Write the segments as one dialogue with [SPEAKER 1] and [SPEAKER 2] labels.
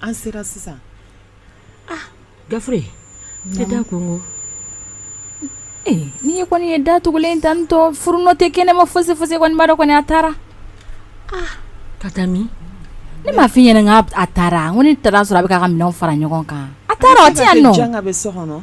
[SPEAKER 1] an sera
[SPEAKER 2] sisan gafure tɛ da konko
[SPEAKER 3] n'i ye kɔni ye da tugulen tan tɔ furu nɔ tɛ kɛnɛma fosi fosi kɔni n b'a dɔn kɔni a
[SPEAKER 2] taara ka taa min ne m'a f'i
[SPEAKER 3] ɲɛna k'a taara ko ne taara a sɔrɔ a bɛ k'a ka minɛn fara ɲɔgɔn kan a taara a tɛ yan nɔ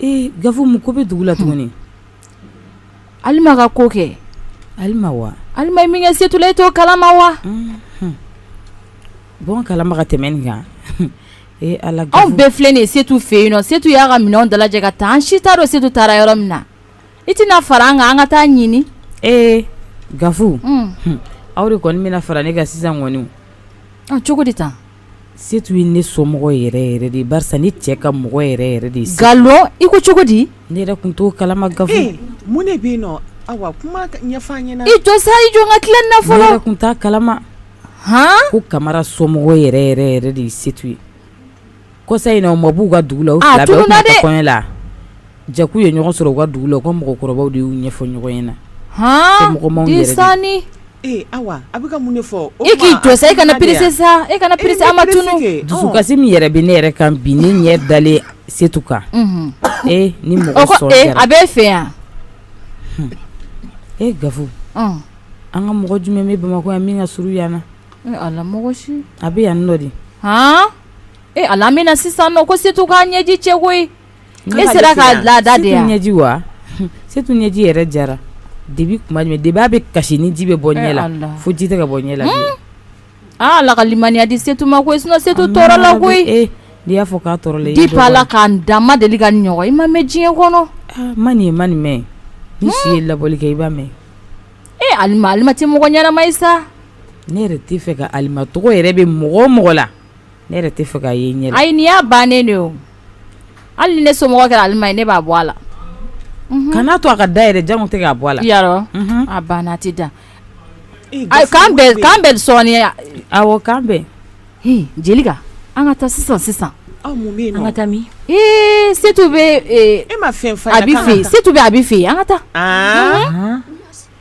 [SPEAKER 3] Ee gafu mun ko
[SPEAKER 4] bɛ dugu la
[SPEAKER 3] tuguni alima ka ko kɛ alima
[SPEAKER 4] wa alima ye min kɛ setu
[SPEAKER 3] la e t'o kalama wa
[SPEAKER 4] n b'o kalama ka tɛmɛ nin kan ee ala anw bɛɛ filɛ
[SPEAKER 3] nin
[SPEAKER 4] setu
[SPEAKER 3] fɛ yen nɔ setu y'a ka minɛn dalajɛ ka taa an si t'a dɔn setu taara yɔrɔ min na i tɛna fara an kan an ka taa ɲini ee
[SPEAKER 4] gafu aw de kɔni bɛna fara ne kan sisan kɔni cogo di
[SPEAKER 3] tan Setu ye
[SPEAKER 4] ne somɔgɔ yɛrɛ yɛrɛ de barisa ne cɛ ka mɔgɔ yɛrɛ yɛrɛ de nkalon i ko
[SPEAKER 3] cogo di ne yɛrɛ kun t'o kalama
[SPEAKER 4] gafu mun de bɛ yen nɔ
[SPEAKER 1] awa kuma ɲɛfɔ an ɲɛna i jɔ sa i jɔ n
[SPEAKER 3] ka tila nin na fɔlɔ ne yɛrɛ kun t'a
[SPEAKER 4] kalama h ko kamara somɔgɔ yɛrɛ yɛrɛ yɛrɛ de ye setu ye kɔsa in na u ma b'u ka dugu la u fila jaa k'u ye ɲɔgɔn sɔrɔ u ka dugu la u ka mɔgɔkɔrɔba de y'u ɲɛfɔ ɲɔgɔn ɲɛna h
[SPEAKER 3] mɔgɔsanni
[SPEAKER 1] awa a bɛ mun fɔ e k'i jɔ sa e kana
[SPEAKER 3] perese sa e kana perese an ma dusukasi min yɛrɛ bɛ
[SPEAKER 4] ne yɛrɛ kan bi ne ɲɛ dalen setu kan ee ni mɔgɔ a bɛ fɛ
[SPEAKER 3] yan
[SPEAKER 4] e gafu an ka mɔgɔ jumɛn bɛ bamakɔ yan min ka surun yan
[SPEAKER 3] na a bɛ yan nɔ de
[SPEAKER 4] h
[SPEAKER 3] ee ala bɛ na sisan ko setu k'a ɲɛji cɛ koyi E sera k'a lada de ɲɛji
[SPEAKER 4] wa setu ɲɛji yɛrɛ jara de bi kuma de bi a bɛ kasi ni ji bɛ bɔ ɲɛ la fo ji tɛ ka bɔ ɲɛ la
[SPEAKER 3] ala ka limaniya di setu ma koyi sinɔn setu tɔɔrɔla koyi n'i y'a fɔ k'a
[SPEAKER 4] tɔɔrɔla depuis ala ka n
[SPEAKER 3] da n ma deli k'a ɲɔgɔn i ma mɛn diɲɛ kɔnɔ n ma nin ye n ma
[SPEAKER 4] nin mɛn n'i si ye labɔli kɛ i b'a mɛn e alima
[SPEAKER 3] tɛ mɔgɔ ɲɛnama ye sa ne yɛrɛ t'a
[SPEAKER 4] fɛ ka alima tɔgɔ yɛrɛ mɛn mɔgɔ o mɔgɔ la ne yɛrɛ t'a fɛ k'a ye ɲɛ la ayi nin y'a bannen
[SPEAKER 3] de o hali ni ne somɔgɔ kɛra alima ye ne b'a bɔ a la kana
[SPEAKER 4] to a ka da yɛrɛ janko tɛ k'a bɔ a la yarɔ a
[SPEAKER 3] banna a tɛ da k'an bɛn sɔɔni awɔ k'an
[SPEAKER 4] bɛn
[SPEAKER 3] jelika an ka taa sisan sisan
[SPEAKER 1] ka taa
[SPEAKER 2] min setu bɛ
[SPEAKER 3] e ma fɛ
[SPEAKER 1] abi fɛ setu bɛ abi
[SPEAKER 3] fɛ yen an ka taa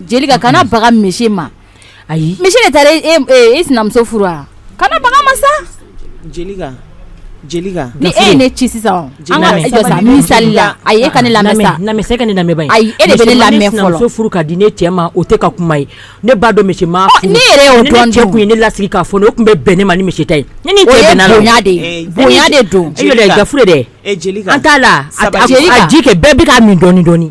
[SPEAKER 1] Jelika
[SPEAKER 3] kana baga misi ma ayi misi
[SPEAKER 2] de
[SPEAKER 3] taara e sinamuso furu wa kana baga a ma
[SPEAKER 1] sa ni e ye ne ci
[SPEAKER 3] sisan misali la ayi e ka ne lamɛn ka ne lamɛn ayi
[SPEAKER 2] e de bɛ ne lamɛn
[SPEAKER 3] fɔlɔ sinamuso furu ka di ne
[SPEAKER 2] cɛ ma o tɛ ka kuma ye ne b'a dɔn misi ma furu ne yɛrɛ y'o dɔn ne cɛ
[SPEAKER 3] kun ye ne
[SPEAKER 2] lasigi
[SPEAKER 3] k'a
[SPEAKER 2] fɔ ne o tun bɛ bɛn ne ma ni misi ta ye ne ni bonya de bonya
[SPEAKER 3] de don e dɛ
[SPEAKER 2] an t'a la a ji kɛ bɛɛ bɛ k'a min dɔɔnin dɔɔnin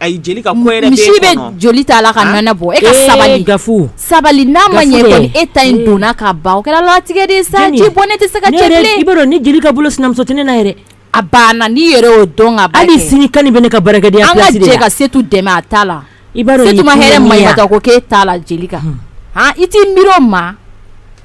[SPEAKER 1] A Jelika misi bɛ joli
[SPEAKER 3] t'a la ka nɔnɔ bɔ e ka sabali ga sabali n'a ma ɲɛ kɔni e ta in donna ka ban o kɛra latigɛ de sa ji bɔnnen tɛ se ka cɛ bilen ni Jelika bolo
[SPEAKER 2] sinamuso tɛ ne na yɛrɛ a banna
[SPEAKER 3] n'i yɛrɛ y'o dɔn ka ban hali sini kan bɛ ne ka
[SPEAKER 2] baara an ka jɛ ka Setu dɛmɛ a
[SPEAKER 3] ta la
[SPEAKER 2] Setu ma hɛrɛ
[SPEAKER 3] ko k'e t'a la Jelika i t'i miiri o ma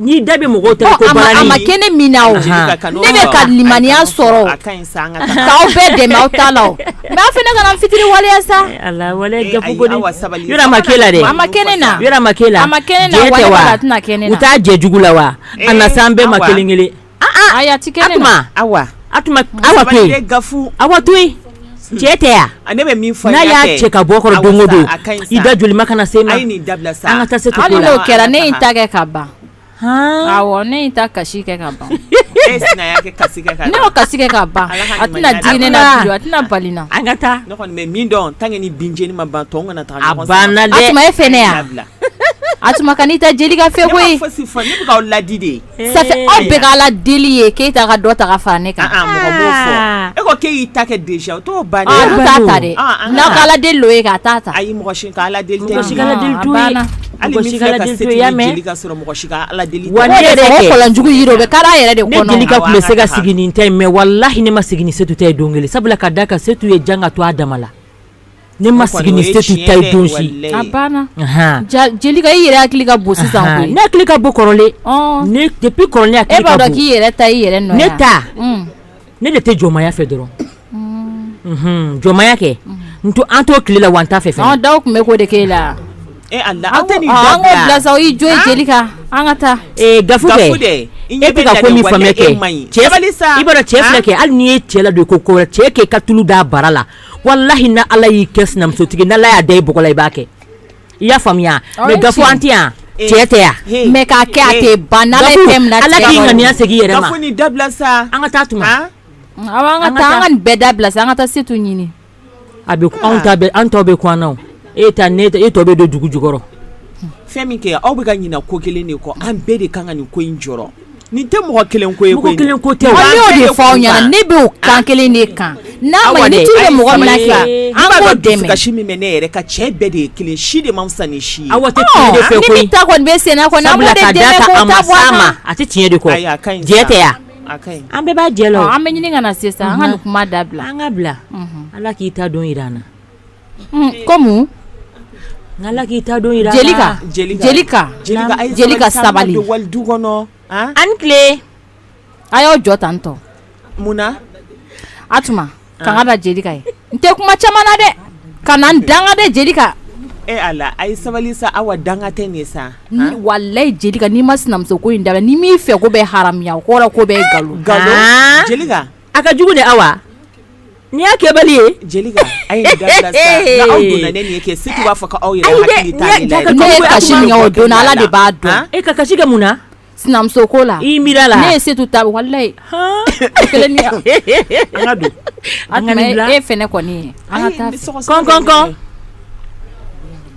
[SPEAKER 2] Ni da bɛ mɔgɔ ta ko a ma kɛ ne
[SPEAKER 3] min na ne bɛ ka limaniya sɔrɔ k'aw bɛɛ dɛmɛ aw ta la mais aw fana kana n fitiriwaleya
[SPEAKER 2] sa a ma k'e la dɛ a ma kɛ ne na a
[SPEAKER 3] ma k'e la a ma kɛ a tɛna kɛ u t'a jɛ jugu la wa
[SPEAKER 2] a na s'an bɛɛ ma kelen kelen Ayi a tɛ
[SPEAKER 3] kɛ ne na Atuma
[SPEAKER 2] to yen Awa to yen cɛ tɛ yan ne bɛ min fɔ n'a
[SPEAKER 1] y'a cɛ ka bɔ
[SPEAKER 2] kɔrɔ don o don i dajolima kana se a ma an ka taa Setu hali n'o kɛra ne ye n ta
[SPEAKER 3] kɛ
[SPEAKER 2] ka
[SPEAKER 3] ban ne ye n ta kasi kɛ ka ban ne y'o kasi kɛ ka ban a tɛna bali na an ka taa ne
[SPEAKER 2] kɔni bɛ min dɔn
[SPEAKER 1] tant que ni binjeni ma ban ntɔn kana taa a banna
[SPEAKER 2] Atuma e fɛnɛ
[SPEAKER 3] yan Atuma ka n'i ta Jelika fɛ koyi fosi fɔ ne bɛ
[SPEAKER 1] k'aw ladi de aw
[SPEAKER 3] bɛɛ k'Ala deli ye Keyita ka dɔ ta ka fara ne
[SPEAKER 1] kan e ko k'e y'i ta kɛ déjà o t'o ban o t'a ta dɛ
[SPEAKER 3] n'aw k'Ala deli o ye k'a t'a ta ayi mɔgɔ si
[SPEAKER 1] ka Ala deli tɛ mɔgɔ si ka Ala deli t'o ye
[SPEAKER 2] kɔlɔnjugu
[SPEAKER 3] yiri o bɛ kari a yɛrɛ de kɔnɔ ne Jelika tun bɛ se ka
[SPEAKER 2] sigi nin ta ye mais wallahi ne ma sigi ni Setu ta ye don kelen sabula ka d'a kan Setu ye jan ka to a dama la Ne ma sigi ni Setu ta ye
[SPEAKER 3] don si Jelika i yɛrɛ hakili ka bon sisan ne hakili ka
[SPEAKER 2] bon kɔrɔlen kɔrɔlen e b'a dɔn k'i yɛrɛ ta i yɛrɛ
[SPEAKER 3] nɔ ne ta
[SPEAKER 2] ne de tɛ jɔnmaya fɛ dɔrɔn jɔnmaya kɛ an t'o tile la wa an t'a fɛ fɛnɛ aw tun bɛ k'o de
[SPEAKER 1] k'e
[SPEAKER 3] la e an ka taa e
[SPEAKER 2] tɛ ka ko min faamuya kɛ cɛ filɛ kɛ hali n'i ye cɛ ladon ko cɛ kɛ ka tulu d'a bara la wallahi n'Ala y'i kɛ sinamusotigi n'Ala y'a da i bɔgɔ la i b'a kɛ i y'a faamuya mais Gafu an tɛ yan cɛ tɛ yan mais k'a kɛ a tɛ
[SPEAKER 3] ban Ala k'i ŋaniya segin
[SPEAKER 2] i yɛrɛ ma nin dabila sa
[SPEAKER 1] an
[SPEAKER 2] ka
[SPEAKER 1] taa Atuma
[SPEAKER 2] an
[SPEAKER 3] ka taa an ka nin bɛɛ dabila sa an ka taa Setu ɲini a
[SPEAKER 2] bɛ anw ta an tɔw bɛ kun na e ta ne e tɔ bɛ don dugu jukɔrɔ fɛn min
[SPEAKER 1] kɛ aw bɛ ka ɲina ko kelen de kɔ an bɛɛ de kan ka nin ko in jɔ Nin tɛ mɔgɔ kelen ko ye koyi, mɔgɔ kelen ko tɛ, an y'o
[SPEAKER 2] de fɔ aw ɲɛna
[SPEAKER 3] ne bɛ o kan kelen de kan, n'a ma ɲɛ ni tulu bɛ mɔgɔ min na sisan an k'o dɛmɛ, dusukasi min bɛ ne yɛrɛ kan
[SPEAKER 1] cɛ bɛɛ de ye kelen ye si de man fisa ni si ye, Awa tɛ tiɲɛ de fɛ koyi, ni
[SPEAKER 2] min ta kɔni bɛ senna
[SPEAKER 3] kɔni an b'o de dɛmɛ k'o ta bɔ a kan, sabula ka d'a kan a ma s'a ma a tɛ tiɲɛ de kɔ, ayi a
[SPEAKER 2] ka ɲi, jɛ tɛ wa, a ka ɲi, an bɛɛ b'a jɛ la wo, ɔ an bɛ ɲini ka na se sa an
[SPEAKER 3] ka nin kuma dabila, an ka bila,
[SPEAKER 2] unhun, Ala k'i ta don jira an na
[SPEAKER 3] Kɔmi
[SPEAKER 2] ala k'i ta
[SPEAKER 3] don jira jelika sabali du kɔnɔ
[SPEAKER 1] an tile
[SPEAKER 2] a y'aw
[SPEAKER 3] jɔ tan tɔ munna
[SPEAKER 1] atuma
[SPEAKER 3] kan ka da jelika ye n tɛ kuma caman na dɛ ka na n danga dɛ jelika ala a
[SPEAKER 1] ye sabali sa awa danga tɛ nin sa walayi
[SPEAKER 3] jelika n'i ma sinamuso ko in dabila ni m'i fɛ ko bɛ haramuya o kɔrɔ ko bɛ nkalon
[SPEAKER 1] a ka jugu de
[SPEAKER 2] awa N'i y'a kɛbali ye
[SPEAKER 1] jelika a ye dabila aw donna ne nin ye kɛ setu b'a fɔ ko aw yɛrɛ hakili t'a de la ne ye kasi min kɛ o
[SPEAKER 3] don na ala de b'a dɔn e ka kasi kɛ mun na
[SPEAKER 2] sinamuso ko
[SPEAKER 3] la i miiri la ne ye
[SPEAKER 2] setu ta
[SPEAKER 3] walayi kelen an
[SPEAKER 2] e fɛnɛ kɔni ye
[SPEAKER 3] an ka taa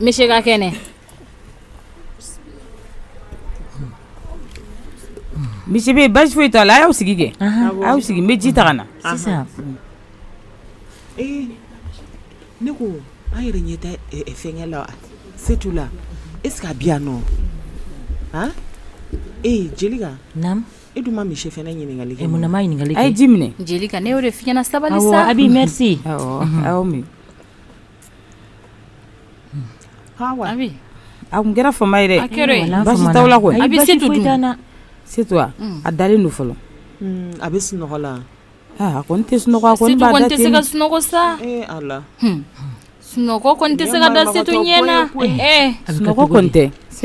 [SPEAKER 3] Monsieur ka
[SPEAKER 4] kɛnɛ monsieur bɛ basi foyi t'a la a y'aw sigi kɛ a y'aw sigi n bɛ ji ta ka na
[SPEAKER 1] ne ko an yɛrɛ ɲɛ tɛ fɛnkɛ la setu la est-ce que a bɛ yan nɔ e jelika e
[SPEAKER 2] dun ma monsieur fɛnɛ
[SPEAKER 1] ɲininkali kɛ n ma ɲininkali kɛ a ye ji
[SPEAKER 2] minɛ jelika ne
[SPEAKER 4] y'o de f'i
[SPEAKER 3] ɲɛna sabali sa abi
[SPEAKER 2] merci
[SPEAKER 3] A tun
[SPEAKER 4] kɛra fa ye a a da don fɔlɔ a bɛ sunɔgɔ
[SPEAKER 1] la
[SPEAKER 4] a
[SPEAKER 3] ko n
[SPEAKER 4] tɛ sunɔgɔ sa
[SPEAKER 1] sunɔgɔ
[SPEAKER 3] tɛ se ka
[SPEAKER 4] da ɲɛ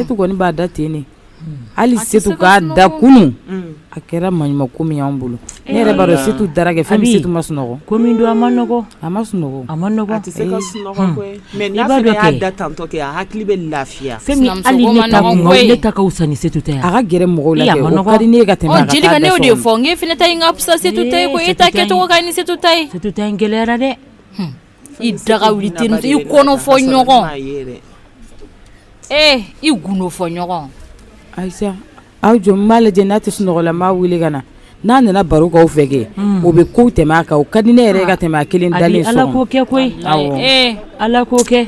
[SPEAKER 4] tɛ b'a da ten Hali setu k'a da kunun a kɛra maɲuman ko min y'an bolo ne yɛrɛ b'a dɔn setu dara kɛ fɛn min setu ma sunɔgɔ ko min don a ma nɔgɔ
[SPEAKER 2] a ma sunɔgɔ a tɛ se ka
[SPEAKER 4] sunɔgɔ koyi
[SPEAKER 1] mais n'a fɛnɛ y'a da tantɔ kɛ a hakili bɛ lafiya fɛn min
[SPEAKER 2] hali ne ta ka wusa ni setu ta ye a ka gɛrɛ mɔgɔw la
[SPEAKER 4] kɛ o ka di ne ye ka tɛmɛ jelika ne y'o de fɔ
[SPEAKER 3] k'e fɛnɛ ta ka fisa setu ta ye e ta kɛcogo ka ɲi ni setu ta ye setu ta gɛlɛyara dɛ i daga wuli terimuso i kɔnɔ fɔ ɲɔgɔn ee i gundo fɔ ɲɔgɔn ayisa
[SPEAKER 4] aw jɔ n b'a lajɛ n'a tɛ sunɔgɔ la n b'a wele ka na n'a nana baro k'aw fɛ kɛ o bɛ kow tɛmɛ a kan o ka di ne yɛrɛ ka tɛmɛ a kelen dalen so kɔnɔ ala k'o kɛ koyi
[SPEAKER 2] ala k'o kɛ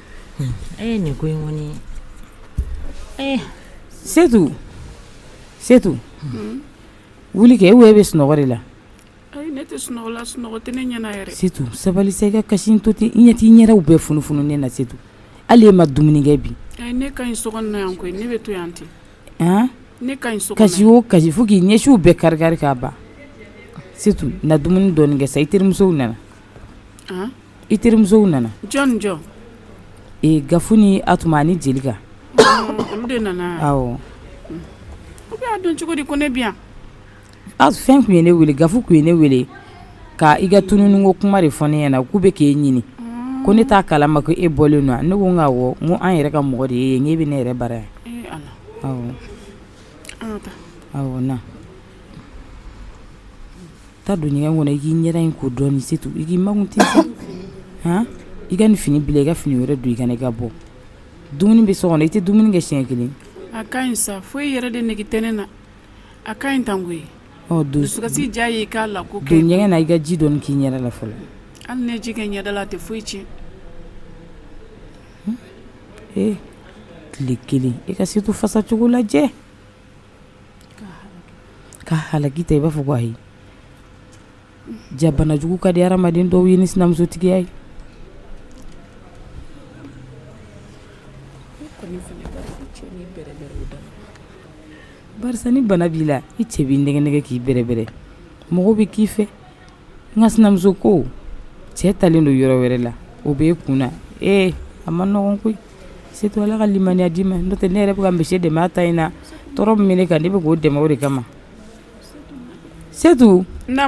[SPEAKER 2] E ye nin ko in kɔni ye
[SPEAKER 4] setu setu wuli kɛ e wo e bɛ sunɔgɔ de la ne tɛ
[SPEAKER 5] sunɔgɔ la sunɔgɔ tɛ ne ɲɛna yɛrɛ setu sabali sa i ka
[SPEAKER 4] kasi to ten i ɲɛ t'i ɲɛdaw bɛɛ funufununen na setu hali e ma dumuni kɛ bi ne ka ɲi so
[SPEAKER 5] kɔnɔ na yan koyi ne bɛ to yan ten ne ka ɲi so kɔnɔ kasi o kasi fo k'i
[SPEAKER 4] ɲɛsiw bɛɛ kari kari k'a ban setu na dumuni dɔɔnin kɛ sa i terimusow nana i terimusow
[SPEAKER 5] nana jɔn
[SPEAKER 4] jɔn Gafu ni Atuma ani Jelika olu
[SPEAKER 5] de nana awɔ u b'a dɔn cogo di ko ne bi yan fɛn
[SPEAKER 4] kun ye ne wele Gafu kun ye ne wele ka i ka tununni ko kuma de fɔ ne ɲɛna k'u bɛ k'e ɲini ko ne t'a kalama ko e bɔlen don ne ko n ka n ko an yɛrɛ ka mɔgɔ de ye n'e bɛ ne yɛrɛ bara yan awɔ na Taa don ɲɛgɛn kɔnɔ i k'i ɲɛda in ko dɔɔni Setu i k'i makun ten sa i ka nin fini bila i ka fini wɛrɛ don i ka na i ka bɔ dumuni bɛ so kɔnɔ i tɛ dumuni kɛ siɲɛ kelen a ka ɲi sa
[SPEAKER 5] foyi yɛrɛ de nege tɛ ne na a ka ɲi tan koyi dusukasi diya ye k'a la ko kɛ ɲɛgɛn na i ka ji
[SPEAKER 4] dɔɔni k'i ɲɛda la fɔlɔ hali n'e ji
[SPEAKER 5] kɛ ɲɛda la a tɛ foyi tiɲɛ
[SPEAKER 4] tile kelen i ka Setu fasacogo lajɛ Ka halaki tan i b'a fɔ ko ayi jaa banajugu ka di hadamaden dɔw ye ni sinamusotigiya ye barisa ni bana b'i la i cɛ b'i nɛgɛnɛgɛn k'i bɛrɛbɛrɛ mɔgɔw bɛ k'i fɛ nka sinamuso ko cɛ talen don yɔrɔ wɛrɛ la o bɛ e kun na ee a ma nɔgɔn koyi Setu ala ka limaniya d'i ma n'o tɛ ne yɛrɛ bɛ ka misi dɛmɛ a ta in na tɔɔrɔ min bɛ ne kan ne bɛ k'o dɛmɛ o de kama setu na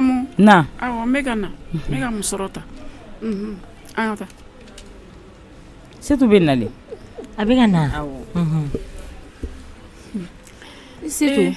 [SPEAKER 4] awɔ n bɛ ka na
[SPEAKER 5] n bɛ ka musɔrɔ ta an ka
[SPEAKER 4] taa setu bɛ nalen a bɛ ka na
[SPEAKER 3] se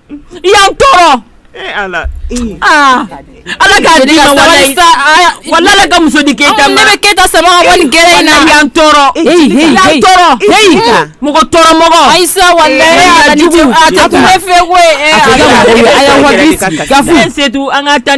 [SPEAKER 2] i y'an tɔɔrɔ ala ala ka muso di keyita ma ne bɛ keyita sama
[SPEAKER 3] ka bɔ gɛrɛn in na i y'an
[SPEAKER 2] tɔɔrɔ mɔgɔ tɔɔrɔ
[SPEAKER 3] mɔgɔ
[SPEAKER 4] ayi fɛ Setu an ka taa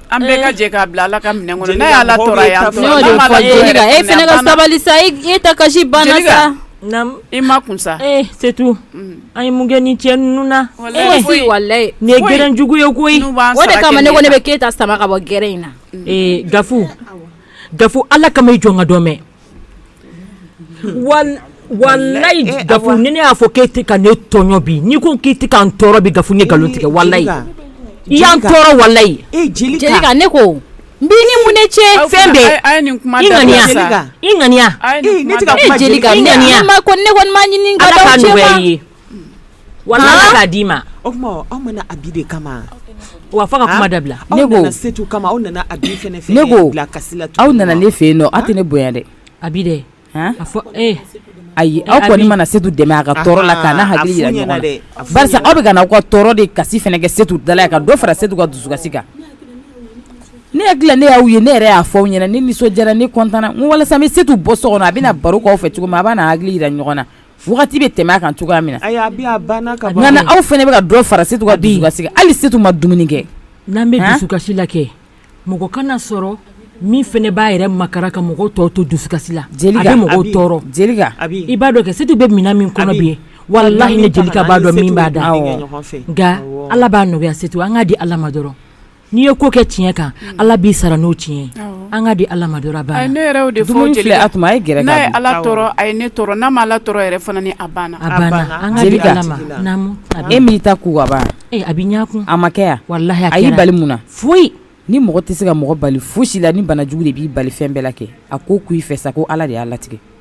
[SPEAKER 5] An bɛɛ ka jɛ k'a bila Ala ka minɛn kɔnɔ n'a ye Ala tɔɔrɔ a ye an tɔɔrɔ a la n'o de fɔ Jelika
[SPEAKER 3] e fɛnɛ ka sabali sa e ta kasi banna sa Jelika naamu i makun
[SPEAKER 5] sa ee c'est tout
[SPEAKER 2] an ye mun kɛ nin cɛ ninnu na walahi foyi
[SPEAKER 3] walahi nin ye gɛrɛn
[SPEAKER 2] jugu ye koyi o de kama ne ko
[SPEAKER 3] ne bɛ Keyita sama ka bɔ gɛrɛn in na ee Gafu
[SPEAKER 2] Gafu Ala kama i jɔ n ka dɔ mɛn Walahi eh, Gafu ni ne y'a fɔ k'e tɛ ka ne tɔɲɔ bi ni n ko k'i tɛ ka n tɔɔrɔ bi Gafu n ye nkalon tigɛ walahi i y'an tɔɔrɔ walahi Jelika ne
[SPEAKER 3] ko n b'i ni mun ne cɛ fɛn bɛɛ
[SPEAKER 2] i ŋaniya
[SPEAKER 3] Jelika ne kɔni ma ɲini ala ka ye
[SPEAKER 2] Walayi k'a d'i ma o tuma aw ma na
[SPEAKER 1] Abi de kama wa fo ka
[SPEAKER 2] kuma dabila ne ko setu
[SPEAKER 1] kama aw nana Abi ne ko kasi
[SPEAKER 4] la aw nana
[SPEAKER 1] ne fɛ yen nɔ
[SPEAKER 4] aw tɛ ne bonya dɛ Abi dɛ
[SPEAKER 2] a fɔ e ayi
[SPEAKER 4] aw kɔni ma na setu dɛmɛ a ka tɔɔrɔ la ka hakili jira ɲɔgɔn na barisa aw bɛ ka na aw ka tɔɔrɔ de kasi fana kɛ setu dala yan ka dɔ fara setu ka dusukasi kan ne hakili la ne y'aw ye ne yɛrɛ y'a fɔ aw ɲɛna ne nisɔndiyara ne kɔntanana walasa n bɛ setu bɔ so kɔnɔ a bɛna baro k'aw fɛ cogo min a b'a hakili jira ɲɔgɔn na Wagati bɛ tɛmɛ a kan cogoya min na nka n'aw fana bɛ ka dɔ fara setu ka dusukasi kan hali setu ma dumuni kɛ n'an bɛ
[SPEAKER 2] dusukasi la kɛ mɔgɔ kana sɔrɔ min fana b'a yɛrɛ makaran ka mɔgɔ tɔw to dusukasi la a bɛ mɔgɔ tɔɔrɔ i
[SPEAKER 4] b'a dɔn kɛ
[SPEAKER 2] setu bɛ minɛn min kɔnɔ bi e walayi ne Jelika b'a dɔn min b'a da nka ala b'a nɔgɔya setu an k'a di ala ma dɔrɔn N'i ye ko kɛ tiɲɛ kan ala b'i sara n'o tiɲɛ an k'a di ala ma
[SPEAKER 5] dɔrɔn a ye ne ala ni
[SPEAKER 2] e min ta
[SPEAKER 4] ko a bɛkun
[SPEAKER 2] a ma kɛ
[SPEAKER 4] walayi a y'i bali
[SPEAKER 2] mun
[SPEAKER 4] na foyi ni mɔgɔ
[SPEAKER 2] tɛ se ka
[SPEAKER 4] mɔgɔ bali fosi la ni banajugu de b'i bali fɛn bɛɛ la kɛ a ko k' i fɛ sa ko ala de y'a latigɛ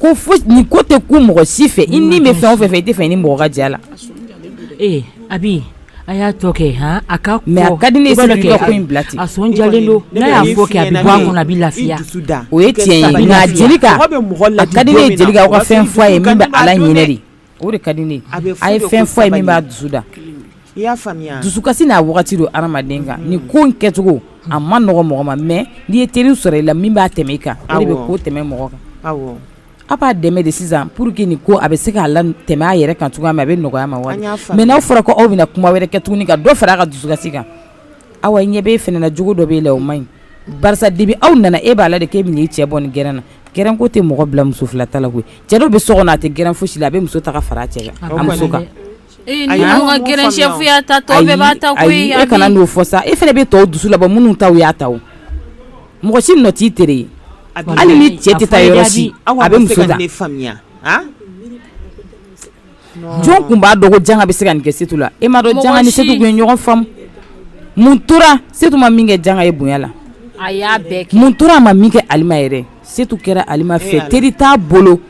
[SPEAKER 4] ko nin ko tɛ ko mɔgɔ si fɛ i ni bɛ fɛn o fɛn fɛ i t'a fɛ i ni mɔgɔ ka jɛ a la ee
[SPEAKER 2] Abi a y'a tɔ kɛ a ka mais a ka di ne ye
[SPEAKER 4] setu ka ko in bila ten a sɔn jalen don
[SPEAKER 2] n'a y'a fɔ kɛ a bɛ bɔ a kɔnɔ a bɛ lafiya o ye tiɲɛ ye
[SPEAKER 4] nka Jelika a ka di ne ye Jelika aw ka fɛn fɔ a ye min b'a laɲinɛ de O de ka di ne a bɛ a ye fɛn fɔ a ye min b'a dusu da i y'a faamuya dusukasi n'a wagati don hadamaden kan ni ko in kɛcogo a man nɔgɔ mɔgɔ ma mais n'i ye teri sɔrɔ i la min b'a tɛmɛ i kan o de bɛ ko tɛmɛ mɔgɔ kan awɔ a b'a dɛmɛ de sisan pour que nin ko a bɛ se k'a latɛmɛ a yɛrɛ kan cogoya min na a bɛ nɔgɔya a ma mais n'a fɔra ko aw bɛna kuma wɛrɛ kɛ tuguni ka dɔ fara a ka dusukasi kan aw ɲɛ bɛ e fana na jogo dɔ b'e la o man ɲi barisa depuis aw nana e b'a la de k'e bɛ n'i cɛ bɔ nin gɛrɛn na gɛrɛn ko tɛ mɔgɔ bila muso fila ta la koyi cɛ dɔ bɛ so kɔnɔ a tɛ gɛrɛn fosi la a bɛ muso ta ka fara a cɛ kan a muso kan. Ee ni anw ka
[SPEAKER 3] gɛrɛn chef y'a ta tɔ bɛɛ b'a ta koyi ayi ayi e kana n'o fɔ sa
[SPEAKER 4] e fana bɛ tɔw dusu labɔ minnu taw y'a ta o mɔgɔ si nɔ t'i tere ye hali ni cɛ tɛ taa yɔrɔ si a bɛ muso ta. jɔn tun b'a dɔn ko janga bɛ se ka nin kɛ Setu la? E m'a dɔn janga ni Setu tun ye ɲɔgɔn faamu? mun tora Setu ma min kɛ janga ye bonya la? a y'a bɛɛ
[SPEAKER 3] kɛ, mun tora a ma min kɛ Alima
[SPEAKER 4] yɛrɛ? Setu kɛra Alima fɛ teri t'a bolo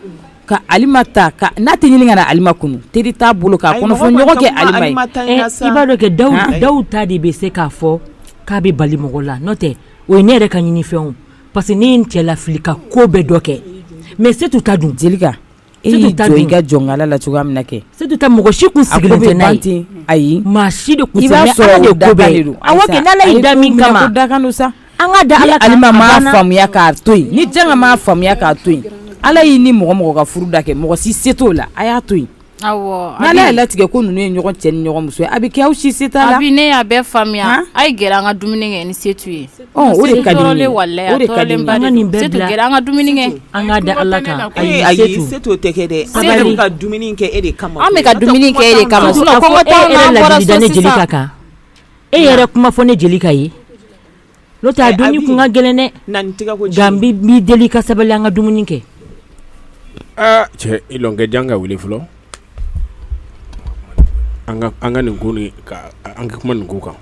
[SPEAKER 4] ka Alima ta ka n'a tɛ ɲini ka na Alima kunun teri t'a bolo k'a kɔnɔfɔɲɔgɔn kɛ Alima ye, i b'a dɔn kɛ
[SPEAKER 2] Dawu ta de bɛ se k'a fɔ k'a bɛ bali mɔgɔ la n'o tɛ o ye ne yɛrɛ ka ɲinifɛn ye o parce que ne ye n cɛ lafili ka ko bɛɛ dɔ kɛ mais Setu ta dun? Jelika E
[SPEAKER 4] y'i jɔ i ka jɔnkala la cogoya min na kɛ Setu ta mɔgɔ si tun sigilen tɛ
[SPEAKER 2] n'a ye, a ko bɛ ban ten, ayi, maa
[SPEAKER 4] si de tun
[SPEAKER 2] sigilen tɛ, i b'a sɔrɔ o
[SPEAKER 4] dakan de don, awɔ kɛ, ni Ala y'i da
[SPEAKER 2] min kama, a ye ko minɛ ko dakan don sa, an
[SPEAKER 4] ka da Ala kan, ni Alima
[SPEAKER 2] m'a faamuya k'a
[SPEAKER 4] to yen, ni Janga m'a faamuya k'a to yen, Ala y'i ni mɔgɔ o mɔgɔ ka furu da kɛ mɔgɔ si se t'o la, a y'a to yen, awɔ, n'Ala
[SPEAKER 3] y'a latigɛ ko
[SPEAKER 4] ninnu ye ɲɔgɔn cɛ ni ɲɔgɔn muso ye a bɛ kɛ aw si se t'a la, Abi ne y'a bɛɛ faamuya,
[SPEAKER 3] a ye gɛrɛ an ka dumuni kɛ ni Setu ye
[SPEAKER 1] An ka dumuni kɛ e
[SPEAKER 3] kama an ka dumuni kɛ e kama Jelika kan
[SPEAKER 2] e yɛrɛ kuma fɔ ne Jelika ye n'o tɛ dumuni kun ka gɛlɛn ne b'i deli ka sabali an ka dumuni kɛ
[SPEAKER 6] aa cɛ ikɛ Janga wele fɔlɔ an ka nin ko an ka kuma nin ko kan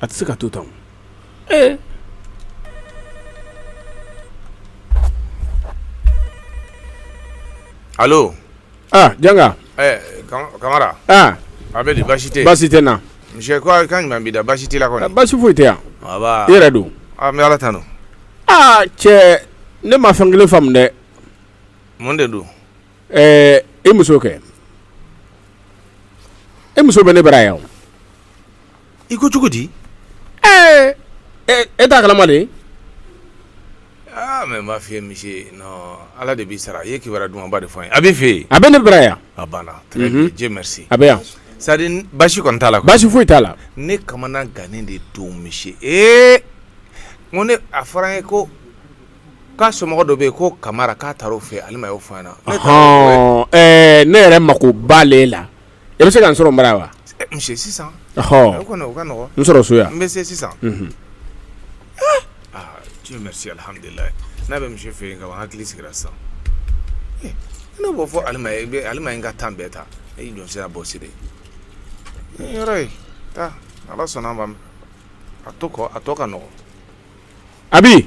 [SPEAKER 6] A tɛ se ka to tan
[SPEAKER 7] ee allo aa
[SPEAKER 6] Janga ɛɛ
[SPEAKER 7] Kamara aa a bɛ di baasi tɛ yen baasi tɛ n na monsieur ko a
[SPEAKER 6] kan jumɛn
[SPEAKER 7] b'i da baasi t'i la kɔni baasi foyi tɛ yan
[SPEAKER 6] nba i yɛrɛ
[SPEAKER 7] dun
[SPEAKER 6] aa n bɛ Ala
[SPEAKER 7] tanu aa
[SPEAKER 6] cɛ ne ma fɛn kelen faamu dɛ mun de
[SPEAKER 7] don ɛɛ
[SPEAKER 6] i muso kɛ i muso bɛ ne bara yan o
[SPEAKER 7] i ko cogo di
[SPEAKER 6] ee e t'a kalama
[SPEAKER 7] de aa mais n b'a f'i ye monsieur non ala de b'i sara i ye kibaruya dumanba de fɔ n ye a b'i fɛ yen a bɛ ne bara yan a
[SPEAKER 6] banna très bien
[SPEAKER 7] Dieu merci a bɛ yan c'est à
[SPEAKER 6] dire baasi
[SPEAKER 7] kɔni t'a la quoi baasi foyi t'a la
[SPEAKER 6] ne
[SPEAKER 7] kamana gannen de don monsieur ee n ko ne a fɔra n ye ko k'a somɔgɔ dɔ bɛ yen ko Kamara k'a taara o fɛ Alima y'o fɔ n ɲɛna ne taara o fɛ ɔhɔn ɛɛ ne yɛrɛ mako
[SPEAKER 6] b'ale la E bɛ se ka n sɔrɔ n bara wa monsieur
[SPEAKER 7] sisan o kɔni o ka nɔgɔ n sɔrɔ so yan n bɛ
[SPEAKER 6] se
[SPEAKER 7] sisan Dieu merci alhamdulilahi n'a bɛ monsieur fɛ yen ka ban hakili sigira sisan ne b'o fɔ Alima ye n ka temps bɛɛ ta e jɔn sera bɔ siri yɔrɔ ye taa ala sɔnna ma a tɔ ka nɔgɔ Abi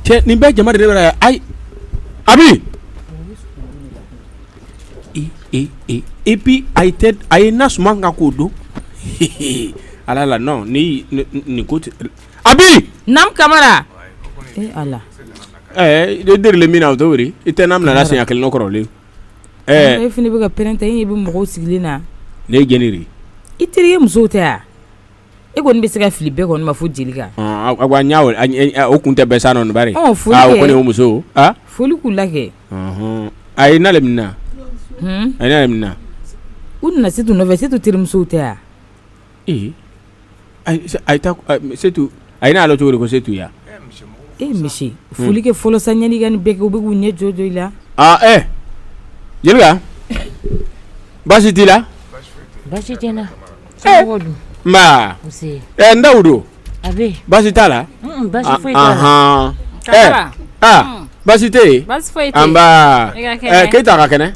[SPEAKER 6] cɛ nin bɛɛ jama de bɛ yan ayi Abi et puis a ye na suma kan k'o don ala la ni nin ko tɛ Abi Kamara e deli min na o to i tɛ n laminɛ siɲɛ kelen n kɔrɔlen ɛɛ e
[SPEAKER 4] fɛnɛ bɛ ka pɛrɛn ten e ɲɛ bɛ mɔgɔw sigilen na ne ye jni i
[SPEAKER 6] terikɛ muso
[SPEAKER 4] tɛ yan E kɔni bɛ se ka fili bɛɛ kɔni ma fo jelika
[SPEAKER 6] y'a o kun tɛ bɛ sa nɔɔnibari kɔni muso foli k'u la kɛ
[SPEAKER 4] a ye
[SPEAKER 6] na le mun na a na mun na u nana
[SPEAKER 4] setu nɔfɛ setu terimusow tɛ yan
[SPEAKER 6] ee ayitu a ye n'a ala cogo ko setu yan e
[SPEAKER 4] misi foli kɛ fɔlɔ san ɲani ka bɛ kɛ u bɛ k'u ɲɛ jɔ jɔ i la
[SPEAKER 6] jelika baasi t'i la baasi tɛ
[SPEAKER 2] N ba
[SPEAKER 6] dawudu baasi
[SPEAKER 2] t'a
[SPEAKER 6] la baasi tɛ yen an ba keyita ka kɛnɛ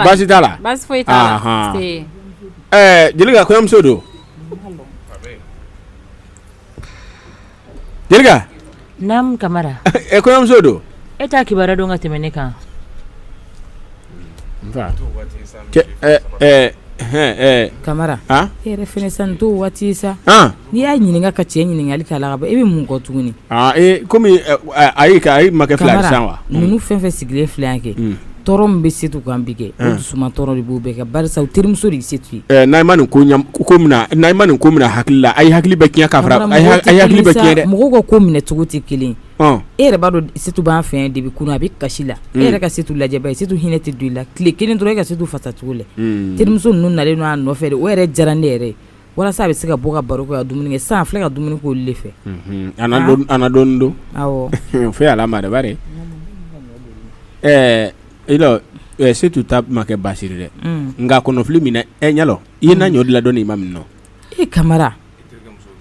[SPEAKER 6] baasi t'a la jelika kɔɲɔmuso don Jelika naamu
[SPEAKER 2] Kamara e kɔɲɔmuso
[SPEAKER 6] don e t'a kibaruya
[SPEAKER 2] dɔn ka tɛmɛ ne
[SPEAKER 4] kan Kamara e yɛrɛ fɛnɛ sa nin t'o waati ye sa n'i y'a ɲininka ka cɛ ɲininkali k'a la ka ban e bɛ mun kɔ tuguni kɔmi
[SPEAKER 6] ayi ayi makɛ fila ye sisan wa ninnu fɛn o fɛn sigilen
[SPEAKER 4] filɛ yan kɛ tɔɔrɔ min bɛ setu kan bi kɛ dusuma tɔɔrɔ de b'u bɛɛ kɛ barisa u terimuso de setu ye n'a ma
[SPEAKER 6] nin ko n'a ma nin ko minɛ hakili la a ye hakili bɛ tiɲɛ ka hakili bɛ tiɲɛ dɛ mɔgɔw ka ko minɛ cogo
[SPEAKER 4] tɛ kelen e yɛrɛ b'a dɔn setu b'an fɛ depuis kunun a bɛ kasi la e yɛrɛ ka setu lajɛ bani setu hinɛ tɛ don i la tile kelen dɔrɔn e ka setu fasacogo lajɛ terimuso ninnu nalen a nɔfɛ o yɛrɛ diyara ne yɛrɛ ye walasa a bɛ se ka bɔ ka baro kɛ ka dumuni kɛ sisan filɛ ka dumuni k'olu de
[SPEAKER 6] fɛ dɔɔni don
[SPEAKER 4] fo ala ma de
[SPEAKER 6] bari ɛɛ e setu ta ma kɛ baasi di dɛ nka kɔnɔfili min e y'a lɔn i ye na ɲɔ dilan dɔɔni i m'a min e
[SPEAKER 4] kamara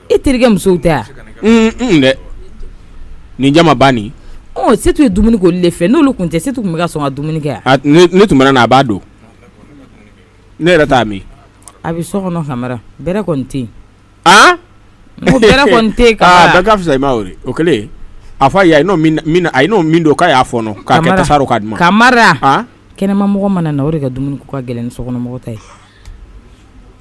[SPEAKER 4] e terikɛ musow tɛ yan
[SPEAKER 6] dɛ nin jama banni setu ye dumuni
[SPEAKER 4] k'olu de fɛ n'olu kun tɛ setu kun bɛ ka sɔn ka dumuni kɛ ne tun mana na a b'a
[SPEAKER 6] dun Ne yɛrɛ t'a min a bɛ so
[SPEAKER 4] kɔnɔ kamara bɛrɛ kɔni tɛ yen aa ko bɛrɛ kɔni tɛ yen ka fisa i ma o
[SPEAKER 6] kɛlen a fɔ a ye a ye n'o min don k'a y'a fɔɔnɔ k'a kɛ tasa rɔ k'a di n ma
[SPEAKER 4] kamara kɛnɛmamɔgɔ mana na o de ka dumuni ko ka gɛlɛn ni sokɔnɔmɔgɔ ta ye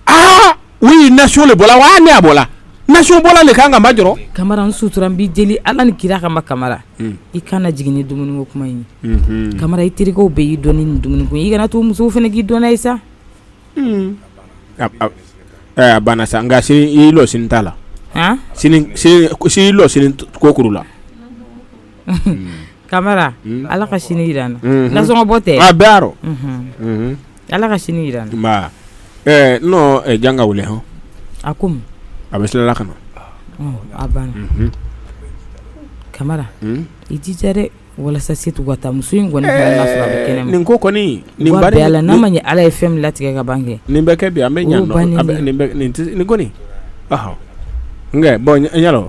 [SPEAKER 4] aa
[SPEAKER 6] o ye nasɔn le bɔla wa ne a bɔla nasɔn bɔla le kan ka ba jɔ kamara n sutura n
[SPEAKER 4] b'i deli ala ni kira kama kamara i kana jigin ni dumuni ko kuma in ye kamara i terikɛw bɛɛ y'i dɔn ni nin dumuni ko i kana to musow fana k'i dɔn n'a ye sa
[SPEAKER 6] a banna sa nka sini i lɔ sini t'a la i lɔ sini kokuru la
[SPEAKER 4] kamara ala ka sini jira n na nasɔn bɔ tɛ a bɛɛ Ala ka sini jira n na,
[SPEAKER 6] ɛɛ n nɔ janga wele hɔn, a ko
[SPEAKER 4] mun, a bɛ sila la ka
[SPEAKER 6] na, ɔ a banna,
[SPEAKER 4] unhun, Kamara i jija dɛ walasa setu ka taa muso in kɔni ka na sɔrɔ a bɛ kɛnɛma, ɛɛ nin ko kɔni,
[SPEAKER 6] nin bari, wa bi Ala n'a
[SPEAKER 4] ma ɲɛ Ala ye fɛn min latigɛ ka ban kɛ, nin bɛ kɛ bi an bɛ ɲɛ nɔ,
[SPEAKER 6] nin kɔni, ɔhɔ, n kɛ bon n y'a lɔn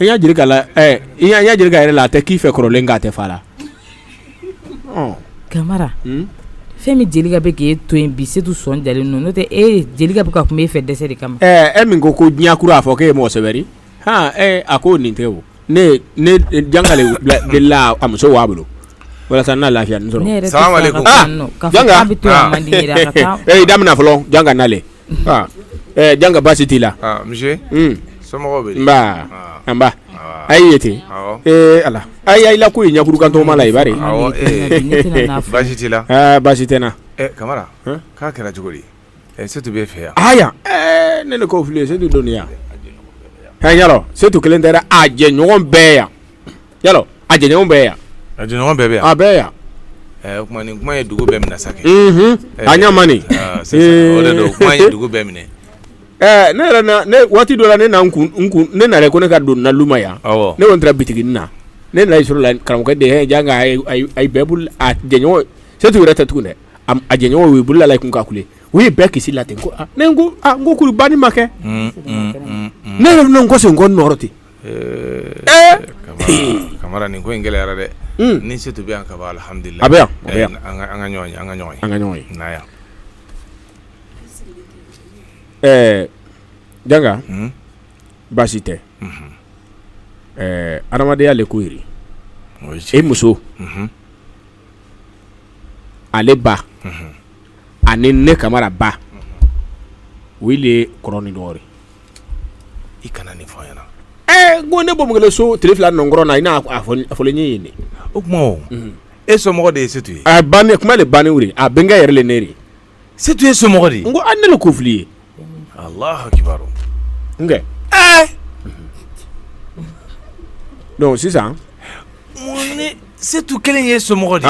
[SPEAKER 4] i y'a
[SPEAKER 6] jelika la i y'a ɲɛ jelika yɛrɛ la a tɛ k'i fɛ kɔrɔlen k'a tɛ fa
[SPEAKER 4] la kamara fɛn min jelika bɛ k'e to yen bi setu sɔn dalen don n'o tɛ e jelika bɛ ka kuma e fɛ dɛsɛ de kama e min ko ko
[SPEAKER 6] di ɲakuru a fɔ k'e ye mɔgɔ sɛbɛ ri a ko nin tɛ ne janga le de la a muso w'a bolo walasa n'a lafiya sɔrɔ bɛ to man
[SPEAKER 4] di daminɛ fɔlɔ janga
[SPEAKER 6] nalen Janga baasi t'i
[SPEAKER 7] la so
[SPEAKER 6] nba a ye ten ee ala a y'a la ko ye ɲakuru kan tɔgɔma la i bari
[SPEAKER 7] baasi t'i la baasi tɛ n
[SPEAKER 6] na
[SPEAKER 7] kamara k'a kɛra cogo di setu b'e fɛ
[SPEAKER 6] yan ne de ko fili setu donnen yan yalɔ setu kelen tɛ dɛ a jɛɲɔgɔn bɛɛ yan yalɔ a jɛɲɔgɔn bɛɛ yan a jɛɲɔgɔn bɛɛ bɛ yan
[SPEAKER 7] a bɛɛ yan
[SPEAKER 6] o kuma
[SPEAKER 7] nin kuma ye dugu bɛɛ minɛ sa kɛ a ɲa
[SPEAKER 6] ma nin o de don
[SPEAKER 7] kuma ye dugu bɛɛ minɛ ɛɛ ne
[SPEAKER 6] yɛrɛ ne waati dɔ la ne na kun n kun ne nana ko ne ka don n na luma yan ne kɔni taara bitiginin na ne nana sɔrɔ la karamɔgɔkɛ de ye janga ayi bɛɛ bolo a jɛɲɔgɔn setu yɛrɛ tɛ tugun dɛ a jɛɲɔgɔn u bolo la la kun ka kule u ye bɛɛ kisi la ten ko ne ko ko kuru banni ma kɛ ne yɛrɛ kɔsegin n kɔ nɔ rɔ ten
[SPEAKER 7] Nin ko in gɛlɛyara dɛ ni setu bɛ yan kaban alhamdulilayi a bɛ yan
[SPEAKER 6] an ka ɲɔgɔn an ka
[SPEAKER 7] ɲɔgɔn an ka ɲɔgɔn ye n'a yan
[SPEAKER 6] ɛɛ janga baasi tɛ ɛɛ adamadenya le ko ye ri e muso ale ba ani ne kamara ba o le kɔrɔ ni dɔgɔ i
[SPEAKER 7] kana nin fɔ ɲɛna ɛ ko ne bɔ
[SPEAKER 6] so tile fila nɔnkɔrɔ na i n'a fɔ ɲɛ ye o tuma
[SPEAKER 7] e somɔgɔ de ye setu ye kuma le
[SPEAKER 6] bannen wuli a bɛnkɛ yɛrɛ le ne Setu
[SPEAKER 7] ye somɔgɔ de ko an ne le ko fili ye allahu akibaru
[SPEAKER 6] nkɛ dɔnki sisan
[SPEAKER 7] mun ni setu kelen ye somɔgɔ de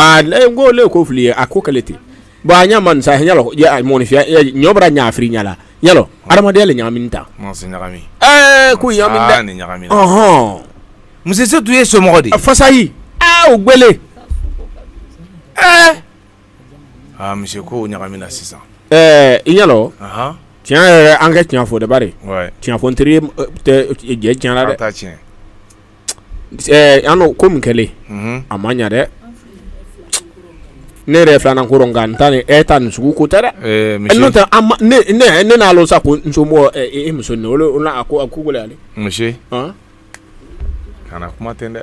[SPEAKER 7] n ko le ko fili ye
[SPEAKER 6] a ko kɛlɛ ten bon a ɲɛ ma sa yalɔ mɔnifiya ɲɔ bɔra ɲaafiri ɲa la yalɔ adamadenya le ɲagamina
[SPEAKER 7] ta
[SPEAKER 6] ko
[SPEAKER 7] ɲagamina muso setu ye somɔgɔ de fasayi
[SPEAKER 6] g
[SPEAKER 7] Monsieur ko ɲagamina sisan ɛɛ i y'a
[SPEAKER 6] lɔ tiɲɛ yɛrɛ an ka tiɲɛ fɔ de bari tiɲɛ fɔ teri jɛ tiɲɛ la dɛ an ko min kɛlen a ma ɲɛ dɛ ne yɛrɛ filanan ko nka n ta ni e ta nin sugu ko tɛ dɛ n'o tɛ ne n'a lɔ sa ko n somɔgɔ e muso a ko
[SPEAKER 7] gɛlɛya ale kana kuma ten dɛ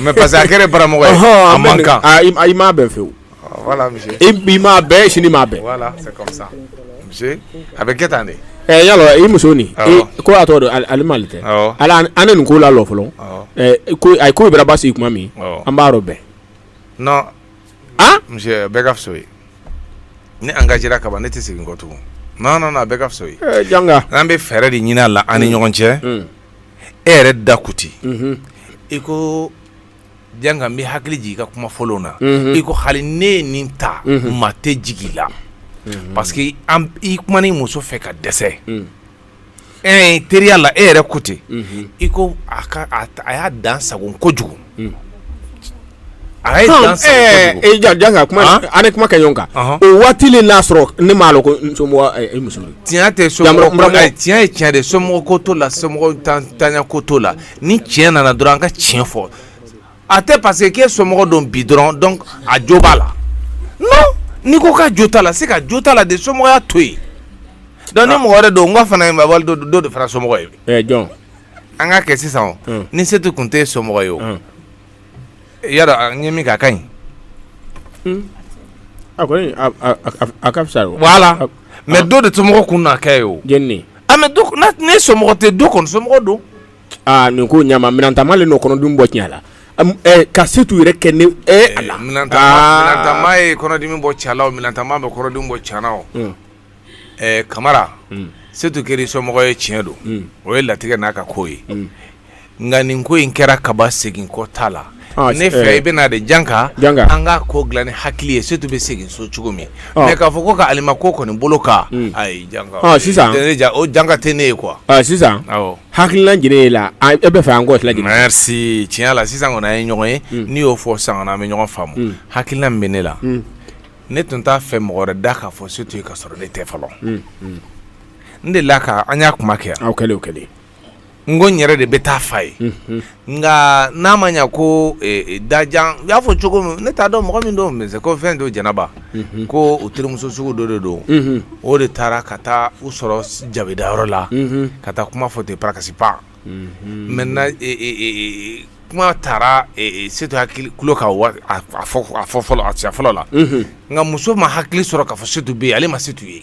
[SPEAKER 7] Mais parce que a kɛra baramɔgɔ ye a man kan i m'a bɛn fewu i m'a bɛn
[SPEAKER 6] sini i m'a
[SPEAKER 7] bɛn a bɛ kɛ tan de i y'a lɔ i muso
[SPEAKER 6] nin ko a tɔgɔ don Alima le tɛ ala an nin ko lalɔ fɔlɔ a ko bara basigi tuma min an b'a rɔbɛn
[SPEAKER 7] non monsieur a bɛɛ ka fisa ye ne engagera kaban ne tɛ segin kɔ tugun non a bɛɛ ka fisa ye janga an bɛ
[SPEAKER 6] fɛɛrɛ de
[SPEAKER 7] ɲinin la an ni ɲɔgɔn cɛ e yɛrɛ da ko ten i ko janka n b'i hakili jigin i ka kuma fɔlɔw na i ko hali ne ye nin ta maa tɛ jigi i la parce que i kumana i muso fɛ ka dɛsɛ e teriya la e yɛrɛ ko ten i ko a y'a dan sagon kojugu Hmm. a y'a dan sagon kojugu. ee janka sa kuma Han? an nin
[SPEAKER 6] kuma kɛ ɲɔgɔn kan Ɔhɔn. o waati le n'a sɔrɔ ne m'a lɔ ko n somɔgɔ ɛ, i muso don. tiɲɛ tɛ Yamura- somɔgɔ
[SPEAKER 7] Yamura- ko ayi, tiɲɛ ye tiɲɛ de ye, somɔgɔ ko t'o la somɔgɔ tan- tanya ko t'o la ni tiɲɛ nana dɔrɔn an ka tiɲɛ fɔ a tɛ parce que k'e somɔgɔ don bi dɔrɔn donc a jo b'a la non n'i ko k'a jo t'a la se ka jo t'a la de somɔgɔya to yen donc ni mɔgɔ wɛrɛ don n ka fana ye mabali dɔ dɔ de fana somɔgɔ ye ɛ jɔn
[SPEAKER 6] an k'a
[SPEAKER 7] kɛ sisan o ni setu tun tɛ somɔgɔ ye o y'a dɔn n ye min kɛ a ka ɲi a a ka
[SPEAKER 6] fisa
[SPEAKER 7] voilà mais dɔ de somɔgɔ
[SPEAKER 6] kun
[SPEAKER 7] na kɛ ye o mais ne somɔgɔ tɛ dɔ kɔni somɔgɔ don aaa nin
[SPEAKER 6] ko ɲama minantama le n'o kɔnɔdimi bɔ tiɲɛ la ka setu yɛrɛ kɛ ne a la
[SPEAKER 7] minantama ye kɔnɔdimi bɔ cɛ la o minantama bɛ kɔnɔdimi bɔ cɛ la kamara setu kɛra somɔgɔ ye tiɲɛ don o ye latigɛ n'a ka ko ye nka nin ko in kɛra kaban segin kɔ t'a la ne fɛ i bɛna de janka an ka ko dilan ni hakili ye setu bɛ segin so cogo min mais k'a fɔ ko ka Alima ko kɔni boloka ayi sisan
[SPEAKER 6] o janka
[SPEAKER 7] tɛ ne ye quoi
[SPEAKER 6] sisan hakilila jumɛn e la e b'a fɛ an k'o tila merci tiɲɛ la
[SPEAKER 7] sisan kɔni an ye ɲɔgɔn ye n'i y'o fɔ sisan kɔni an bɛ ɲɔgɔn faamu hakilila min bɛ ne la ne tun t'a fɛ mɔgɔ wɛrɛ da k'a fɔ setu ye ka sɔrɔ ne tɛ fɔlɔ n de la ka an y'a kuma kɛ yan kɛlen kɛlen
[SPEAKER 6] n ko n
[SPEAKER 7] yɛrɛ de bɛ taa f'a ye nka n'a ma ɲɛ ko dajan u y'a fɔ cogo min ne t'a dɔn mɔgɔ min don mais ko fɛn don jɛnɛba ko u terimuso sugu dɔ de don o de taara ka taa u sɔrɔ jabidayɔrɔ la ka taa kuma fɔ ten pakasi pan maintenant kuma taara setu hakili ka fɔlɔ a cɛ fɔlɔ la nka muso ma hakili sɔrɔ k'a fɔ setu bɛ yen ale ma setu ye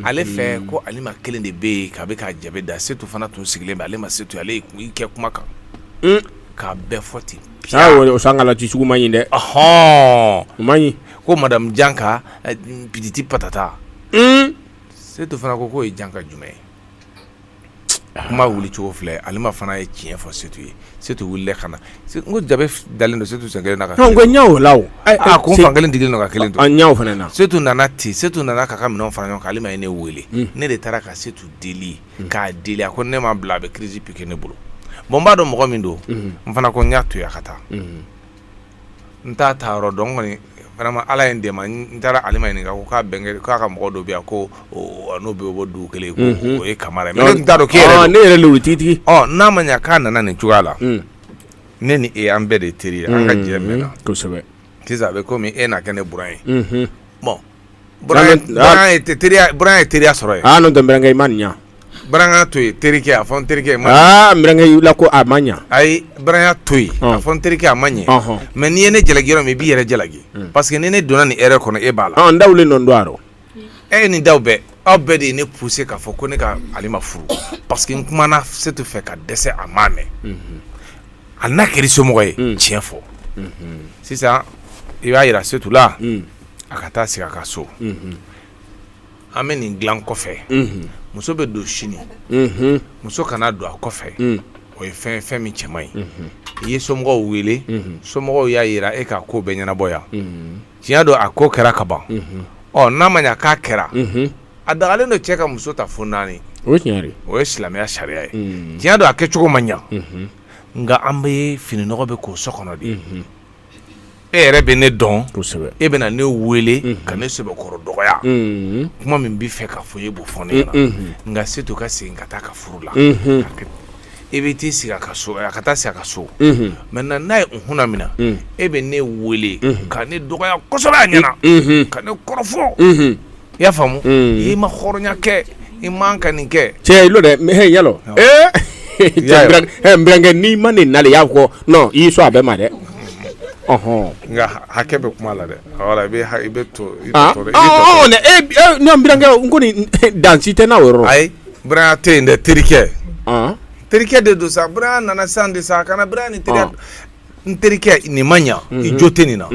[SPEAKER 7] ale fɛ ko alima kelen de bɛ yen k'a bɛ ka jabi da setu fana tun sigilen bɛ ale ma setu ale kɛ kuma kan k'a bɛɛ fɔ ten o san kaji jugu
[SPEAKER 6] man ɲi dɛ hɔn ma ko madamu janka
[SPEAKER 7] pititi patata setu fana ko k'o ye janka jumɛn ye kuma wili cogo filɛ alima fana ye tiɲɛ fɔ setu ye setu wilila ka na ko jabi dalen don setu sen kelen la
[SPEAKER 6] ko fan kelen
[SPEAKER 7] digi ka kelen fana setu nana
[SPEAKER 6] ten
[SPEAKER 7] setu nana k'a ka minɛn fara ɲɔgɔn kan alima ye ne weele ne de taara ka setu deli k'a deli a ko ne m'a bila a bɛ crise piqué ne bolo bon n b'a dɔn mɔgɔ min don n fana ko n y'a to yen a ka taa n t'a taa yɔrɔ dɔn kɔni vraiment ala ye n dɛmɛ n taara alima ɲininka ko k'a bɛnkɛ k'a ka mɔgɔ dɔ bɛ yan ko n'o bɛ bɔ dugu kelen ko mhm. o ye kamara ye mais ne tun t'a dɔn k'e yɛrɛ ne yɛrɛ lewu tigitigi
[SPEAKER 6] ɔ n'a ma ɲa k'a
[SPEAKER 7] nana nin cogoya la mm. ne ni e an bɛɛ de teri ye an ka mm. jɛ mɛnna kosɛbɛ sisan
[SPEAKER 6] a bɛ komi
[SPEAKER 7] e na kɛ ne buran ye mhm. bon ye teriya sɔrɔ yen n'o tɛ n burankɛ i ma
[SPEAKER 6] nin ɲɛ buranya
[SPEAKER 7] to yen terikɛ a fɔ n terikɛ burankɛ
[SPEAKER 6] la ko a ma ɲɛ ayi buranya to
[SPEAKER 7] yen a fɔ n terikɛ a ma ɲɛ mais n'i ye ne jalaki yɔrɔ min i b'i yɛrɛ jalaki parce que ni ne donna nin erreur kɔnɔ e b'a la daw le nɔ don
[SPEAKER 6] a rɔ e ni
[SPEAKER 7] daw bɛɛ aw bɛɛ de ye ne pousser k'a fɔ ko ne ka alima furu parce que n kumana setu fɛ ka dɛsɛ a m'a mɛn a na kɛra somɔgɔ ye tiɲɛ fɔ sisan i b'a jira setu la a ka taa sigi a ka so an bɛ nin dilan kɔfɛ muso bɛ don sini muso kana don a kɔfɛ o ye fɛn fɛn min cɛman ye i ye somɔgɔw wele somɔgɔw y'a jira e ka ko bɛ ɲɛnabɔ yan tiɲɛ don a ko kɛra ka ban ɔ n'a ma ɲɛ k'a kɛra a dagalen don cɛ ka muso ta fo naani o ye
[SPEAKER 6] silamɛya sariya
[SPEAKER 7] ye tiɲɛ don a kɛcogo ma ɲɛ nka an bɛ fininɔgɔ bɛɛ ko so kɔnɔ de ye e yɛrɛ bɛ ne dɔn e bɛna ne weele ka ne sɛbɛkɔrɔ dɔgɔya kuma min b'i fɛ ka fɔ e b'o fɔ ne ɲɛna nka setu ka segin ka taa a ka furu la e bɛ t'i sigi a ka so a ka taa sigi a ka so maintenant n'a ye kun min na e bɛ ne weele ka ne dɔgɔya kosɛbɛ a ɲɛna ka ne kɔrɔfɔ i y'a faamu mm. i ma hɔrɔnya kɛ i man ka nin kɛ cɛ i lɔ dɛ mais y'a
[SPEAKER 6] lɔn ee n burankɛ n'i ma nin nali i y'a fɔ non i y'i sɔn a bɛɛ ma dɛ ɔhɔn
[SPEAKER 7] nka hakɛ bɛ kuma la dɛ wala i bɛ i bɛ to i bɛ tɔɔrɔ i bɛ tɔɔrɔ ne
[SPEAKER 6] e ne n burankɛ n ko nin dansi tɛ n'a o yɔrɔ la ayi buranya
[SPEAKER 7] tɛ yen dɛ terikɛ terikɛ de don sa buranya nana sisan de sa a kana buranya ni terikɛ n terikɛ nin ma ɲa i jo tɛ nin na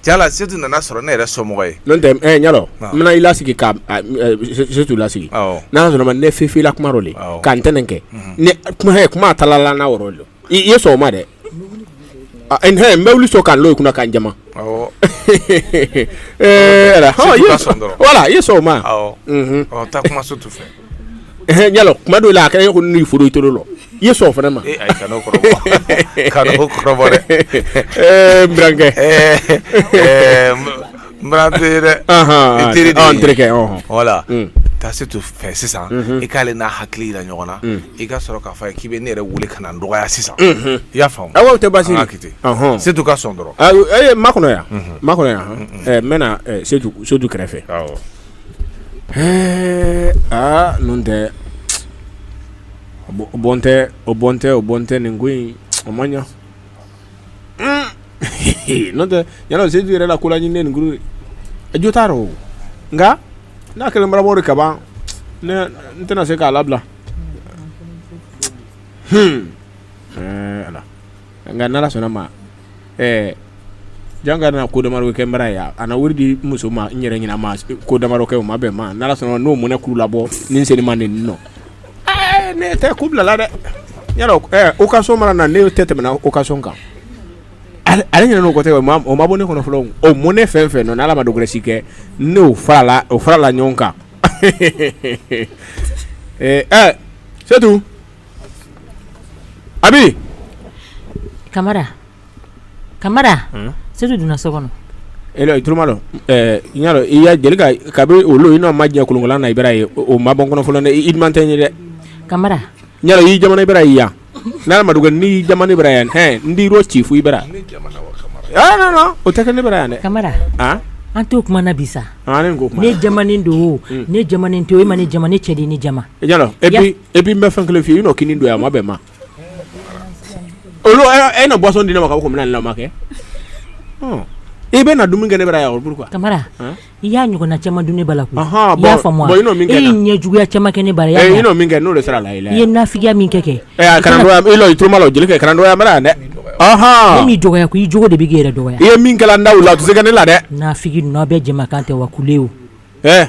[SPEAKER 7] Jaa setu nana sɔrɔ ne yɛrɛ somɔgɔ ye n
[SPEAKER 6] bɛna i lasigi ka setu lasigi n'a sɔrɔ ma ne fifila kuma ka n tɛnɛn kɛ kuma kuma a tala n'a yɔrɔ de i ye sɔn o ma dɛ n bɛ wuli sɔn ka n lɔ i kunna ka n jama wala i ye sɔn o ma
[SPEAKER 7] ɲalo
[SPEAKER 6] kuma dɔw la a kɛra e ko ni fɔra i tulo la i ye sɔn o fana
[SPEAKER 7] ma dɛ voilà taa setu fɛ sisan i k'ale n'a hakili jira ɲɔgɔn na i ka sɔrɔ k'a fɔ k'i bɛ ne yɛrɛ weele ka na n dɔgɔya sisan i y'a faamu awa a tɛ baasi
[SPEAKER 6] setu ka
[SPEAKER 7] sɔn dɔrɔn n makɔnɔ yan
[SPEAKER 6] n makɔnɔ yan n bɛna setu kɛrɛfɛ Ɛɛ aa n'o tɛ o bɔn tɛ o bɔn tɛ o bɔn tɛ nin ko in o man ɲa n'o tɛ ɲalo setu yɛrɛ la ko la ɲini nin a jo t'a rɔ nka n'a kɛlen barabɔ de kaban n tɛna se k'a labila h nka n'ala sɔnna ma ɛɛ jan ka na ko damadɔ kɛ n bara yan a wari di muso ma n yɛrɛ ɲɛna ko damadɔ kɛ o ma bɛn ma n'ala sɔnna n'o mɔnɛ kuru labɔ ni seli ma nin nɔ ne tɛ ku bilala dɛ yala occasion mana na ne tɛ tɛmɛna occasion kan ale ɲinana o kɔ tɛ o ma bɔ ne kɔnɔ fɔlɔ o mɔnɛ fɛn fɛn nɔ n'ala ma dɔ gɛrɛ si kɛ n'o farala o farala ɲɔgɔn kan ɛɛ setu Abi
[SPEAKER 2] kamara kamara setu donna so kɔnɔ e i tulo malɔ
[SPEAKER 6] ɲalo i ya deli ka bɛ olu i n'a ma jɛ kolonkolon na i bara ye o ma bɔ kɔnɔ fɔlɔ i diman tɛ n ye dɛ kamara
[SPEAKER 2] ɲalo y'i jama
[SPEAKER 6] na i bara yan n'ala ma dɔ kɛ n' y'i jama na i bara yan hɛ n d'i rɔci fo i bara o tɛ kɛ ne bara yan dɛ kamara
[SPEAKER 2] an t' o kuma na bi sa ne don ne to e ma ne jama ne cɛ de ne jama
[SPEAKER 6] et puis n bɛ fɛn kelen f'i ye i n'o kini dun a ma bɛn ma olu e na boisson di ne ma ka ko minɛn lama kɛ i bɛ na dumuni kɛ ne bara yan o pourquoi kamara i
[SPEAKER 2] y'a ɲɔgɔnna caman dun ne bala la i y'a faamu e ɲɛ juguya caman kɛ ne bara e ye min kɛ n'o de sera
[SPEAKER 6] la i ye nafigiya min kɛ
[SPEAKER 2] kɛ
[SPEAKER 6] i tulo malɔ jelikɛ kɛ karamɔgɔya n bara yan dɛ ne m'i
[SPEAKER 2] dɔgɔya ko i jogo de b'i yɛrɛ dɔgɔya i ye min da la a
[SPEAKER 6] tɛ se kɛ ne la dɛ nafigi ninnu aw bɛ
[SPEAKER 2] jɛkan tɛ wa kule
[SPEAKER 6] a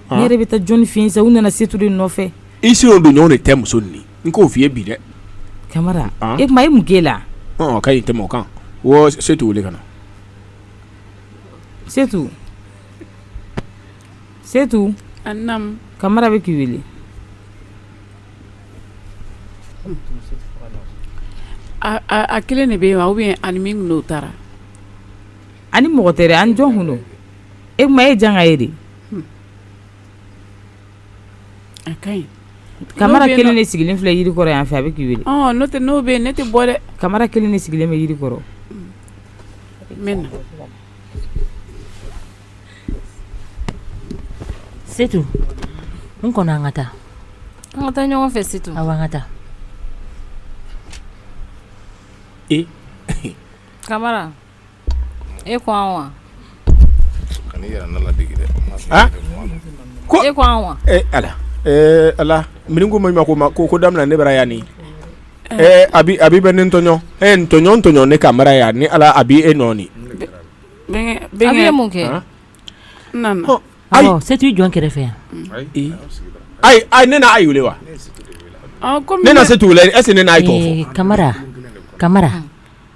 [SPEAKER 4] ne yɛrɛ bɛ taa jɔnni fɛ yen sa u nana setu de nɔfɛ i si n'o dun ɲɔgɔn
[SPEAKER 6] de tɛ muso nin n k'o f'i ye bi dɛ
[SPEAKER 4] kamara e kuma e mun k'e la ka tɛmɛ o kan
[SPEAKER 6] setu wele ka na
[SPEAKER 4] setu
[SPEAKER 5] setu kamara bɛ
[SPEAKER 4] k'i
[SPEAKER 5] wele a kelen de bɛ yen wa ou bien ani min n'o taara
[SPEAKER 4] ani mɔgɔ tɛ a ni jɔn kun don e kuma e janga ye de
[SPEAKER 5] A ka ɲi kamara
[SPEAKER 4] kelen de sigilen filɛ jiri kɔrɔ yan fɛ a bɛ k'i wele n'o tɛ n'o bɛ yen ne tɛ
[SPEAKER 5] bɔ dɛ kamara kelen de sigilen bɛ
[SPEAKER 4] jiri kɔrɔ
[SPEAKER 5] n
[SPEAKER 2] setu n kɔnɔ an ka taa an ka taa ɲɔgɔn fɛ setu a
[SPEAKER 3] an ka taa ee kamara e ko
[SPEAKER 6] wa ala mini ko ma ma ko ma ko ko daminɛ ne bara yan ni eh. abi abi bɛ ne tɔɲɔ e tɔɲɔ tɔɲɔ ne kamara yan ni ala abi e
[SPEAKER 5] nɔɔni setu
[SPEAKER 2] i jɔn kɛrɛfɛ
[SPEAKER 6] yan ayi ayi ne na ayi wele wa ne na setu wele est-ce que ne na ayi tɔgɔ fɔ kamara
[SPEAKER 2] kamara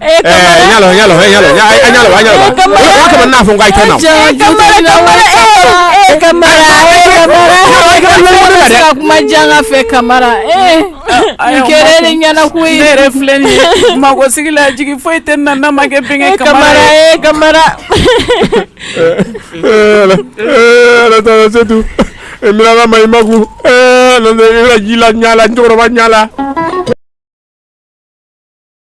[SPEAKER 2] Eh, eh,
[SPEAKER 3] ɲala ɲala eh, ɲala ɲala ɲala eh, kamara o kama n'a fɔ n k'a kɛ na kamara kamara eh kamara eh kamara kamara se ka kuma janga fɛ kamara eh i kɛrɛ de ɲɛna ko ye ne yɛrɛ filɛ nin ye
[SPEAKER 5] mago sigi la jigi foyi tɛ na n'a ma kɛ bɛnkɛ kamara eh
[SPEAKER 6] kamara eh ala eh ala taara setu eh mirala ma i maku eh ala ji la ɲala cɛkɔrɔba ɲala